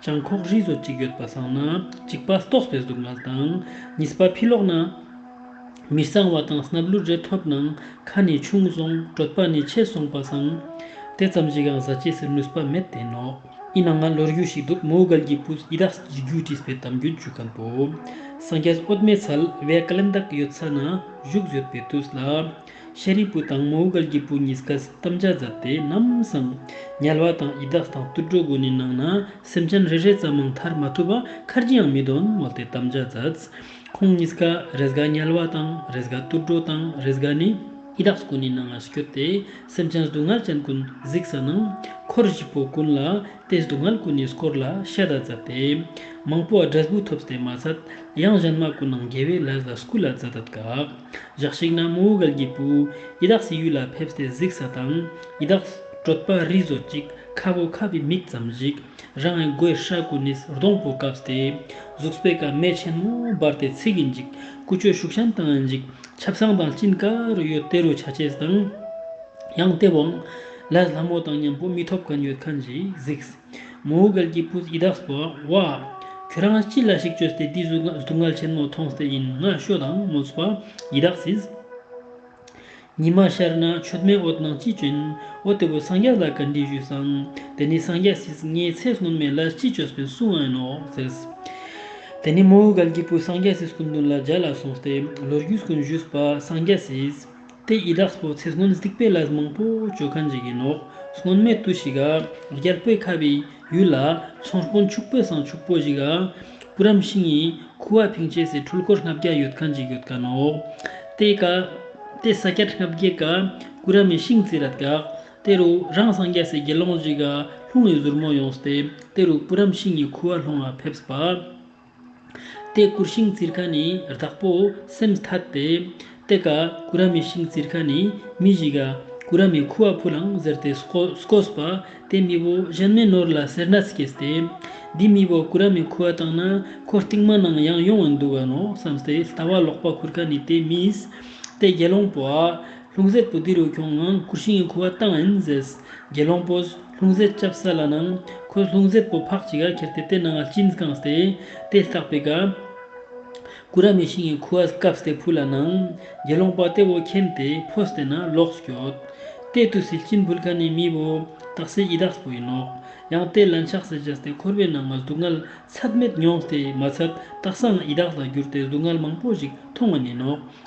བྱང་ཁོག་རིས་སོ་གཅིག་ཡོད་པ་སྲང་ན་གཅིག་པ་ཏོག་པའི་གཟུགས་མངལ་དང། གཉིས་པ་ཕི་ལོག་ན། མི་གཙང་བ་དང་སྣབས་ལུད་རེ་ཐོབ་ནང་ཁ་ནས་ཕྱུང་སོང་དྲོད་པ་ནི་ཆད་སོང་པ་སྲང། དེ་ཙམ་ཞིག་ཡང་བཟའ་བཅས་སུ་ནུས་པ་མེད་དེ་ནོ། ཡིན་ན་ང་ལོ་རྒྱུས་ཤིག་འདུག་མོའུ་གལ་གྱི་བུ་ཡི་དྭགས་ཀྱི་རྒྱུད་བྲིས་པའི་གཏམ་རྒྱུད་བརྒྱུད་གམ་པོ། སངས་རྒྱས་ཨོ་དམའི་ཚལ་བའི་ཀླན་བདག་ཡོད་ས་ན་བཞུགས་ཡོད་པའི་དུས་ལ། ཤཱ་རིའི་བུ་དང་མོའུ་འགལ་གྱི་བུ་གཉིས་ཀས་དམ་བཅའ་བརྫབས་ཏེ་ནམ་བསམ། ཉལ་བ་དང་ཡི་དྭགས་དང་དུད་འགྲོ་དགུ་ནི་ནང་ན་སེམས་ཅན་རེ་རེ་ཙམ་མང་ཐར་མ་ཐུབ་པ་ཁར་ཅི་ཡང་མི་དོན་སྨྲས་ཏེ་དམ་བཅའ་བརྫབས། ཁོང་གཉིས་ཀ་རེས་འགའ་ཉལ་བ་དང་རེས་འགའ་དུད་འགྲོ་དང་རེས་འགའ་ནི་ཡི་དྭགས་དགུ་ནི་ནང་ངར་བསྐྱོད་དེ་སེམས་ཅན་སྡུག་བསྔལ་ཅན་ཀུན་གཟིགས་ས་ན་འཁོར་བཞི་པོ་ཀུན་ལ་ཏེ་སྡུག་བསྔལ་ཀུན་ནས་སྐོར་ལ་ཤ་དག་འཛབ་སྟེ། མང་པོ་ཨ་བྲྀས་བུ་ཐོབ་སྟེ་མ་ཚད། ཡང་གཞན་མ་ཀུན་ནང་རྒྱལ་བས་ལས་ལ་སྐུ་ལ་ཛ྄་དད་དགག། ཇག་ཤིག་ན་མོའུ་གལ་གྱི་བུ། ཡི་དྭགས་སྲི་ཡུལ་ལ་ཕེབས་སྟེ་གཟིགས་ས་དང། ཡི་དྭགས། བྲོད་པ་རིས་བཟོ་ཅིག་ཁ་བོ་ཁ་བའི་མིག་ཙམ་ཞིག། རང་ཨའི་མགོའི་ཧྲ་ཀུན་ནས་སྡོང་པོ་བཀབ་སྟེ། གཟུགས་པའི་ཀ་མད་ཆེན་མོ་སྦར་ཏེ་ཚིག་གིས་འཇིག། ཀུ་ཅོའི་ཤུག་ཤམ་དང་འཇིག། ཆབ་གསང་དང་སྐྱིན་ཀ་རུ་ཡོད་དེ་རུ་བྱ་བྱེད་དང། ཡང་སྟེ་བང། ལས་ལྷ་མོ་དང་མཉམ་པོ་མི་ཐོབ་ག་མྱོས་ཁ་འབྱིད་གཟིགས། མོའུ་སྒལ་གྱིས་སྤུ་ཡི་དྭགས་སུ་བ། ཁྱོད་རང་ཅི་ལ་ཞིག་བཅོས་ཏེ་འདི་སུ་སྡུག་བསྔལ་ཆེན་མོ་མཐོང་སྟེ་ཡིན་ང་ཤོ་དང་མོ་སྤ་ཡི་དྭགས་སིས། ཉི་མ་ཤར་ན་ཆོས་སྨན་འོ་ནང་ཅི་བྱོན་འོ་དེ་བོ་སངས་རྒྱ་ལ་ག་འདྲི་ཞུས་སང་དེ་ནི་སངས་རྒྱ་སིས་ངའི་ཚེ་སྣོན་མེ་ལ་ཅི་བཅོས་སྤེན་སུ་ཨན་ནོ་ཟེར། དེ་ནི་མོའུ་སྒལ་གྱིས་སྤུ་སངས་རྒྱ་སིས་སྐུ་མདུན་ལ་འཇལ་ལ་སོང་སྟེ་ལོ་རྒྱུས་སྐུ་འཇུས་སྤ་སངས་རྒྱ་སིས། དེ་ཡི་དྭགས་སོ་ཚེ་སྔོན་སྡིག་པའི་ལས་མང་པོ་བྱོས་ཁ་འཇིག་གི་ནོ། སྔོན་མེད་དུ་ཞིག། རྒྱལ་པོའི་ཁ་བའི་ཡུལ་ལ། ཚོང་དཔོན་ཕྱུག་པོའི་བསང་ཕྱུག་པོ་ཞིག། བུ་རམ་ཤིང་ཡི་ཁུ་བ་ཕིང་བྱས་སའི་འཁྲུལ་འཁོར་ལྔ་བརྒྱ་ཡོད་ཁ་འཇིག་ཡོད་ཀ་ནོ། དེ་ཀ། དེ་ས་སྐྱར་ལྔ་བརྒྱའི་ཀ། བུ་རམ་ཡི་ཤིང་རྩི་ར་དགག། དེ་རུ་རང་སངས་རྒྱས་སའི་དགེ་སློང་ཞིག། ལྷུང་བའི་གཟུར་མོ་ཡོངས་སྟེ། དེ་རུ་བུ་རམ་ཤིང་ཡི་ཁུ་བ་ལྷུང་བ་ཕེབས་པ། ཏེ་ཀུར་ཤིང་བཙིར་ཁ་ནི་བདག་པོ་སེམས་ཐ་སྟེ། ཏེ་ཀ་ཀུ་ར་མི་ཤིང་བཙིར་ཁ་ནི་མི་བཞི་ཀ་ཀུ་ར་མི་ཁུ་བ་ཕུ་ལང་ཟེར་ཏེ་སྐོས་པ། ཏེ་མི་བོ་གཞན་མའི་ནོར་ལ་སེར་སྣ་སྐྱེས་ཏེ། འདིས་མི་བོ་ཀུ་ར་མི་ཁུ་བ་བཏང་ན་ཁོ་རྟིང་མ་ནང་ཡང་ཡོང་བར་འདུག་ག་ནོ་བསམས་ཏེ་ལྟ་བ་ལོག་པ་ཁུར་ཁ་ནི་ཏེ་མིས། ཏེ་དགེ་སློང་པོ་ཨ། ལྷུང་བཟེད་པོ་ཏི་རུ་ཁྱུང་ངང་ཁུར་ཤིང་ཁུ་བ་བཏང་ཨིན་ཟེར། དགེ་སློང་པོས་ལྷུང་བཟེད་བཅབས་ས་ལ་ནང་ཁོས་ལྷུང་བཟེད་པོ་ཕག་ཅིག་ག་ཁྱེར་ཏེ་དེ་ནང་ལ་བཅིངས་བཀང་སྟེ་དེ་བཏགས་པས་ག། ཀུ་ར་མའི་ཤིང་ཁུ་བ་བཀབས་སྟེ་ཕུ་ལ་ནང། དགེ་སློང་པ་དེ་བོ་ཁྱེམ་སྟེ་ཕོ་སྟེ་ན་ལོགས་སྐྱོད། དེས་དུ་སིལ་སྐྱིན་བུལ་ཁ་ནས་མི་བོ་དག་སའི་ཡི་དྭགས་པོ་ཡིན་ནོ། ཡང་དེ་ལན་ཆགས་སེ་བྱས་ཏེ་འཁོར་བའི་ནང་ང་གཟུགས་མངལ་ཚད་མེད་མྱོང་སྟེ་མ་ཚད་སྟག་སང་ཡི་དྭགས་ལ་གྱུར་ཏེ་གཟུགས་མངལ་མང་པོ་ཞིག་མཐོང་བ་ཉིད་ནོ།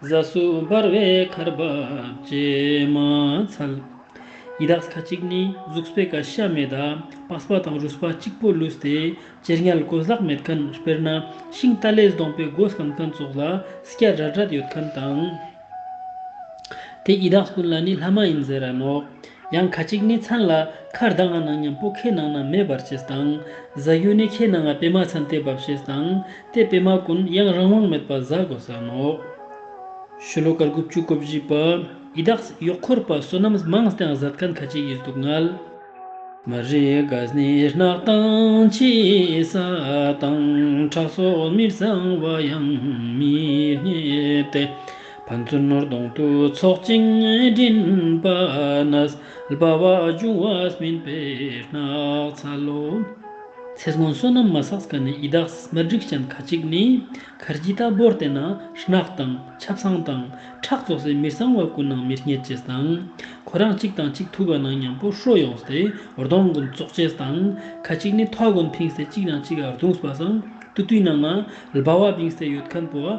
རྫ་སུ་འབར་བའི་མཁར་འབབ་བཅད་མ་ཚལ། ཡི་དྭགས་ཁ་ཅིག་ནི་གཟུགས་སྤེ་ཀ་ཤ་མེ་ད་པཱས་པ་དང་རུས་པ་གཅིག་པོ་ལུས་ཏེ་ཅེར་ཉལ་གོས་ལྷག་མེད་མཁན་དཔེར་ན་ཤིང་རྟ་ལས་བསྡོངས་པའི་སྒོ་སམ་མཁན་ཙོག་ལ་སྐྱ་རལ་རལ་ཡོད་མཁན་དང། དེ་ཡི་དྭགས་ཀུན་ལ་ནི་ལྷ་མ་ཡིན་ཟེར་ར་ནོག་ཡང་ཁ་ཅིག་ནི་ཚང་ལ་ཁར་གདངས་ལ་ནང་སྙམ་པོ་ཁའི་ནང་ན་མེ་འབར་ཅེས་དང། གཟའ་གཡོན་ནི་ཁའི་ནང་ང་པད་མ་ཚན་ཏེ་འབབ་ཤེས་དང། དེ་པད་མ་ཀུན་ཡང་རང་དབང་མེད་པར་གཟའ་གོ་ས་ནོ། ཤུ་ལོ་ཀར་དགུ་བཅུ་གོ་བཞི་པ། ཡི་དྭགས་གཡོག་འཁོར་པ་བསོད་ནམས་མང་སྟེང་གཟའ་སྐལ་ཁ་ཅིག་ཡིད་སྡུག་བསྔལ། མ་རིག་གཟས་ནི་རྣག་དང་ཕྱི་ས་དང་ཁྲག་སོགས་མི་གཙང་བ་ཡང་མི་རྙེད་དེ། ཕན་ཚུན་ནོར་གདོང་དུ་ཚོགས་ཅིང་སྦྲིན་པ་ན་སྦ་བ་འབྱུང་བ་སྨིན་པའི་སྣག་ཚ་ལོ། ཚེ་སྔོན་བསོད་ནམས་མ་བསགས་སྐལ་ནི་ཡི་དྭགས་སྨེར་སྒྲིག་ཅན་ཁ་ཅིག་ནི་གར་གྱི་རྟ་སྦོར་བསྟེན་ན་སྣག་དང་ཆབ་སྲང་དང་ཁྲག་བཙོག་སའི་མི་གསང་བ་ཀུན་སྣང་མིར་སྙེད་ཅེས་དང། ཁོ་རང་གཅིག་དང་གཅིག་ཐུག་པ་ན་མཉམ་པོར་ཧྲོལ་ཡོང་སྟེ་རྡོང་ཀུན་བཙོག་ཅེས་དང། ཁ་ཅིག་ནི་ཐོག་ཀུན་འཐིང་སྟེ་གཅིག་དང་གཅིག་རྡུང་སྦ་སྲང་ཏུ་བཏུད་ན་ནསྦ་བ་བིང་སའི་ཡོད་ཁན་པོ།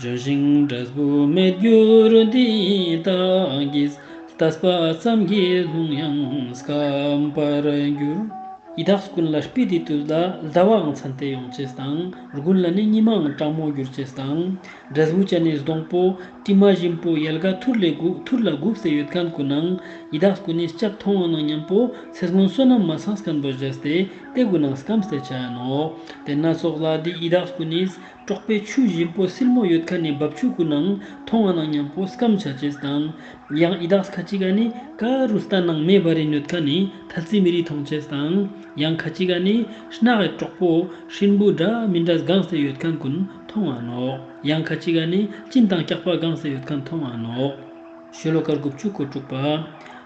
ལྗོན་ཤིང་འབྲས་བུ་མེད་འགྱུར་འདི་དག་གིས། ལྟ་བ་ཙམ་གྱིས་ལྷུང་ཡང་སྐམ་པར་འགྱུར། ཡི་དྭགས་སུ་ཀུན་ལ་སྤི་ཏི་ཏུ་ལ་ཟླ་བའང་མཚན་དེ་ཡོང་ཆེས་དང། རྒུན་ལ་ནི་ཉི་མའང་སྤྲང་མོ་འགྱུར་ཆེས་དང། འབྲས་བུ་ཅན་ནི་སྡོང་པོ་དྲི་མ་བཞིན་པོ་ཡལ་ག་ཐུར་ལས་དགུག་ཐུར་ལ་དགུག་ཟས་ཡོད་གང་དགུ་ནང། ཡི་དྭགས་སུ་ཀུན་ནི་སྐྱབས་མཐོང་བ་ནང་སྙམ་པོ་ཚེ་སྔོན་བསོད་ནམས་མ་ཚང་སྐམ་པོ་བཞེས་ཏེ་སྟེ་དགུ་ནང་སྐམ་ཟས་བྱ་ཡ་ནོ། དེ་སྣ་ཚོགས་ལ་འདི་ཡི་དྭགས་སུ་ཀུན་ནི། དཀྲོགས་པའི་ཆུ་བཞིན་པོ་སིལ་མོ་ཡོད་ཁ་ནས་འབབ་ཆུ་ཀུན་ནང་མཐོང་བ་ནང་མཉམ་པོ་སྐམ་བྱ་ཅེས་དང། ཡང་ཨི་དྭགས་ཁ་ཅིག་ག་ནི་ཀ་རུ་སྟ་ནང་མེ་འབར་རི་ནོད་ཁ་ནས་ཐལ་རྩི་མི་རིགས་མཐོང་ཅེས་དང། ཡང་ཁ་ཅིག་ག་ནི་སྣག་ཨེ་དཀྲོགས་པོ་ཧྲིན་པོ་སྒྲ་མི་འདྲ་སྒང་ཟས་ཡོད་ཁ་ཀུན་མཐོང་བ་ནོ། ཡང་ཁ་ཅིག་ག་ནི་གཅིན་དང་སྐྱག་པ་སྒང་ཟས་ཡོད་ཁ་མཐོང་བ་ནོ། ཤོ་ལོ་ཀར་དགུ་བཅུ་གོ་དྲུག་པ།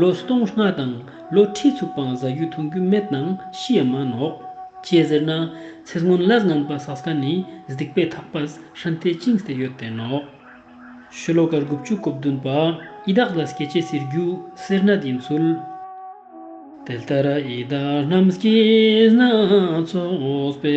ལོ་སྟོང་ལྔ་དང་ལོ་ཁྲི་ཚོ་སྤང་བཟའ་གཡུ་ཐུང་གུ་མེད་དང་ཤི་ཡ་མ་ནོག། ཅེས་ཟེར་ན་ཚེ་སྔོན་ལ་རྔན་པ་སཱ་སྐ་ནི་གཟིག་པའི་ཐག་པ་ཧྲན་ཏེ་ཅིང་སྟེ་ཡོད་དེ་ནོག། ཤོ་ལོ་ཀ་དགུ་བཅུ་གོ་བདུན་པ་ཨི་དག་ལ་སྐྱེ་བྱེད་སེར་རྒྱུ་སེར་ནད་ཡིན་ཚུལ། དེ་ལྟར་ཨི་དག་རྣམས་སྐྱེས་ན་ཚོགས་པའི།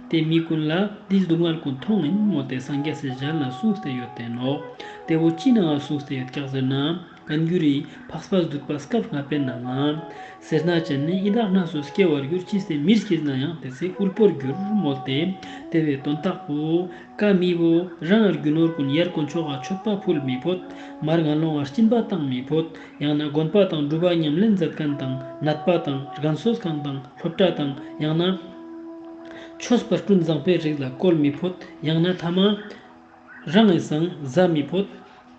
དེས་མི་ཀུན་ལ་འདིས་སྡུག་བསྔལ་ཀུན་མཐོང་ངན་ངོ་སྟེ་སངས་རྒྱས་སྲས་གཞན་ལ་གསུང་སྟེ་ཡོད་བསྟན་ནོ། དེ་བོ་ཅི་ནའང་གསུང་སྟེ་ཡོད་སྐྱག་ཟེར་ན། གང་འགྱུར་རི། འཕགས་པ་གཟུགས་པ་སྐབས་སྔ་བས་ན་ང། སེར་སྣ་ཅན་ནི་ཡི་དྭགས་སྣ་ཚོགས་སྐྱེ་བར་འགྱུར་ཅི་སྲིད་མིར་སྐྱེས་ན་ཡང་དེ་ཚེ་དབུལ་པོར་འགྱུར་སྨོས་ཏེ། དེ་བས་དོན་རྟགས་པོ། ཀ་མི་བོ། རང་ངར་རྒྱུ་ནོར་ཀུན་ཡལ་དཀོན་མཆོག་ག་མཆོད་པ་ཕུལ་མི་ཕོད། མར་ངར་ལོང་ངར་སྐྱིན་པ་བཏང་མི་ཕོད། ཡང་ན་དགོན་པ་དང་སྒྲུབ་པ་ཉམས་ལེན་མཛད་མཁན་དང་ནད་པ་དང་རྒན་གསོ་ཁང་དང་སློབ་གྲྭ་དང་ཡང་ན། ཆོས་པར་སྐྲུན་བཟང་པའི་རིགས་ལ་བཀོལ་མི་ཕོད་ཡང་ན་ཐ་མ་རང་ངོས་སངས་བཟའ་མི་ཕོད།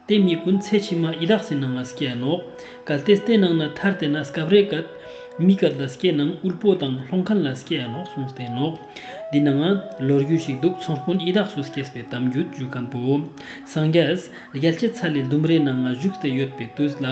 དེ་གཉིས་ཀུན་ཚད་ཕྱི་མ་ཡི་དྭགས་སི་ནང་ལ་སི་ཀའི་ནོག། གལ་ཏེ་སྟེ་ནང་ན་ཐར་དེ་ན་སི་ཀ་བ་རེ་གད། མི་གད་ལ་སི་ཀའི་ནང་དབུལ་པོ་དང་ལྷོང་ཁན་ལ་སི་ཀའི་ནོག་གསུངས་སི་ཀའི་ནོག། འདི་ནའང་ལོ་རྒྱུས་ཤིག་འདུག་ཚོང་དཔོན་ཡི་དྭགས་སུ་སི་ཀས་པའི་གཏམ་རྒྱུད་བརྗོད་མཁན་པོ་སངས་རྒྱས་རྒྱལ་གྱི་ཚལ་ལི་ལྡུམ་རའི་ནང་ང་བཞུགས་སྟེ་ཡོད་པའི་དུས་ལ་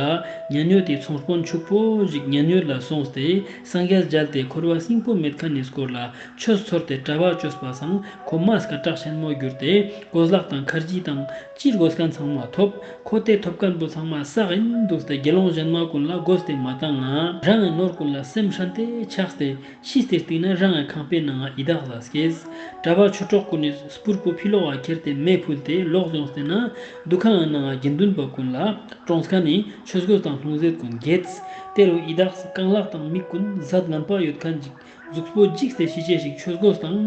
ཉན་ཡོད་དེ་ཚོང་དཔོན་ཕྱུག་པོ་ཞིག་ཉན་ཡོད་ལ་སོང་སྟེ་སངས་རྒྱས་སྦྱར་ཏེ་འཁོར་བ་སྲིན་པོ་མེད་ཁ་ནས་བསྐོར་ལ་ཆོས་ཚོར་ཏེ་དྲ་བ་བཅོས་པ་བཟང་ཁོ་མ་སྐ་བྲག་ཆེན་མོ་བསྒྱུར་ཏེ་སྒོ་ཟླག་དང་མཁར་བརྗིད་དང་སྤྱིར་སྒོ་སྐལ་ཚང་མ་ཐོབ་ཁོ་སྟེ་ཐོབ་སྐལ་འབུ་ཚང་མ་བསགས་ཨིན་འདུག་སྟེ་དགེ་སློང་གཞན་མ་ཀུན་ལ་སྒོ་སྟེ་མ་བཏང་ང་རང་ངའི་ནོར་ཀུན་ལ་སེམས་ཧྲན་ཏེ་ཆགས་སྟེ་ཤི་སྟེ་བཏིང་ན་རང་ངའི་ཁང་པའི་ནང་ཡི་དྭགས་ལ་སྐྱེས། དྲ་བ་ཆུ་གྲོགས་ཀུན་ནས་སྤུར་པོ་ཕི་ལོག་བ་ཁྱེར་ཏེ་མེ་ཕུལ་ཏེ་ལོག་བྱུང་སྟེ་ན། འདུ་ཁང་ནང་དགེ་འདུན་པ་ཀུན་ལ་བཀྲོངས་དཀའ་ནི་ཆོས་གོས་དང་ལྷུང་བཟེད་ཀུན་འགྱེད། དེ་རུ་ཡི་དྭགས་རྐང་ལག་དང་མིག་ཀུན་གཟབ་ལམ་པ་ཡོད་ཁ་འཇིགས་གཟུགས་སྤོ་འཇིགས་སེ་ཤི་བྱས་ཤིག་ཆོས་གོས་དང་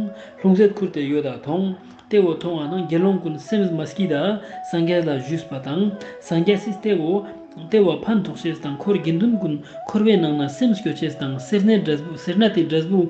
ལྷུང་བཟེད་ཁུར་ཏེ་ཡོད་དྭ་ཐོང་ཏེ་འོ་ཐོང་བ་ན་དགེ་སློང་ཀུན་སེམས་མ་སྐྱིད་ད་སངས་རྒྱས་ལ་བཞུས་པ་དང་སངས་རྒྱས་སིས་ཏེ་འོ་ཏེ་བ་ཕན་ཐོགས་བྱས་དང་འཁོར་དགེ་འདུན་ཀུན་འཁོར་བའི་ནང་ན་སེམས་སྐྱོ་བྱས་དང་སེར་སྣའི་སྒྲ་སྦུག་སེར་སྣ་དེའི་སྒྲ་སྦུག།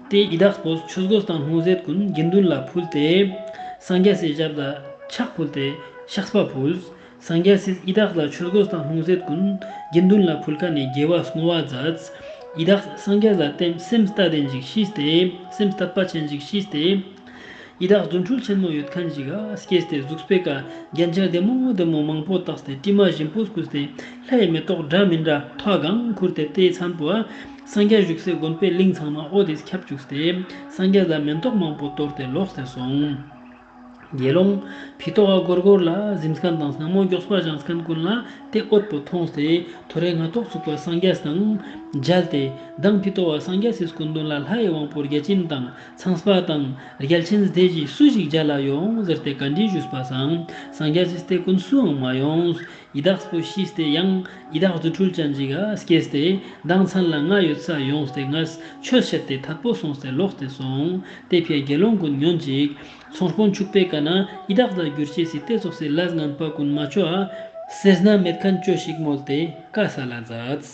དེས་ཡི་དྭགས་སྒོ་ཆོས་སྒོ་དང་ལྷུང་བཟེད་ཀུན་དགེ་འདུན་ལ་ཕུལ་ཏེ། སངས་རྒྱས་སྲས་ཞབས་ལ་ཕྱག་ཕུལ་ཏེ་ཤཱཀ་པ་ཕུལ། སངས་རྒྱས་སྲས་ཡི་དྭགས་ལ་ཆོས་སྒོ་དང་ལྷུང་བཟེད་ཀུན་དགེ་འདུན་ལ་ཕུལ་ཁ་ནས་རྒྱལ་བ་བསྔོ་བ་མཛད། ཡི་དྭགས་སངས་རྒྱས་ལ་བསྟིམ་སེམས་ལྟ་སྟེ་འཇིགས་ཤིས་ཏེ་སེམས་ལྟ་དཔའ་ཆེན་འཇིགས་ཤིས་ཏེ། ཡི་དྭགས་རྫུ་འཕྲུལ་ཆེན་མོ་ཡོད་མཁན་ཞིག་ག་སྐྱེས་ཏེ་གཟུགས་སྤེལ་ག་རྒྱན་ཆ་བདེ་མོ་བདེ་མོ་མང་པོ་བཏགས་ཏེ་སྤྲིས་མ་བཞིན་པོ་བཀུག་སྟེ་ལྷའི་མེ་ཏོག་འདྲ་མི་འདྲ་ཐོག་གང་ཁུར་ཏེ་རྟའི་ཚངས་པོ་སངས་རྒྱས་བཞུགས་སའི་དགོན་པའི་གླིང་ཚང་མ་ཨོ་དེས་ཁྱབ་བཅུག་སྟེ་སངས་རྒྱས་ལ་མེ་ཏོག་མང་པོ་གཏོར་ཏེ་ལོག་སྟེ་སོང། དགེ་སློང་བི་ཏོ་བ་གོར་གོར་ལ་གཟིམས་ཁང་དང་སྣང་མོ་མགྱོགས་པ་བཞེངས་སྐན་ཀུན་ལ་རྟའི་ཨོད་པོ་མཐོང་སྟེ་ཐོ་རེངས་སྣ་ཐོག་ཚུགས་པ་སངས་རྒྱས་དང་མཇལ་ཏེ་བདག་བི་ཏོ་བ་སངས་རྒྱས་སིས་སྐུ་མདུན་ལ་ལྷའི་དབང་པོར་རྒྱལ་ཆེན་དང། ཚངས་པ་དང་རྒྱལ་ཆེན་སྡེ་བཞིའི་སུ་ཞིག་རྒྱ་ལ་ཡོང་ཟེར་ཏེ་བཀའ་དྲིན་ཞུས་པ་བཟང་སངས་རྒྱ་ཆེ་སྟེ་ཀུན་སུའང་མ་ཡོང། ཡི་དྭགས་པོ་ཤི་སྟེ་ཡང་ཡི་དྭགས་རྫུ་འཕྲུལ་ཅན་ཅིག་སྐྱེས་ཏེ་མདང་ཚང་ལ་ང་ཡོད་ས་ཡོང་སྟེ་ང་ཆོས་བཤད་དེ་ཐབས་པོ་སོང་སྟེ་ལོག་སྟེ་སོང་སྟེ་ཕའི་དགེ་སློང་ཀུན་ཉོན་ཅིག་ཚོང་དཔོན་ཕྱུག་པའི་བཀའ་ན་ཡི་དྭགས་ལ་བསྒྱུར་བྱས་སྲིད་དེ་རྫོགས་སའི་བླ་རྔན་པ་ཀུན་མ་ཆོག། སེར་སྣ་མེད་མཁན་ཅོ་ཞིག་བསྨོལ་ཏེ་བཀའ་ས་ལ་འཛགས།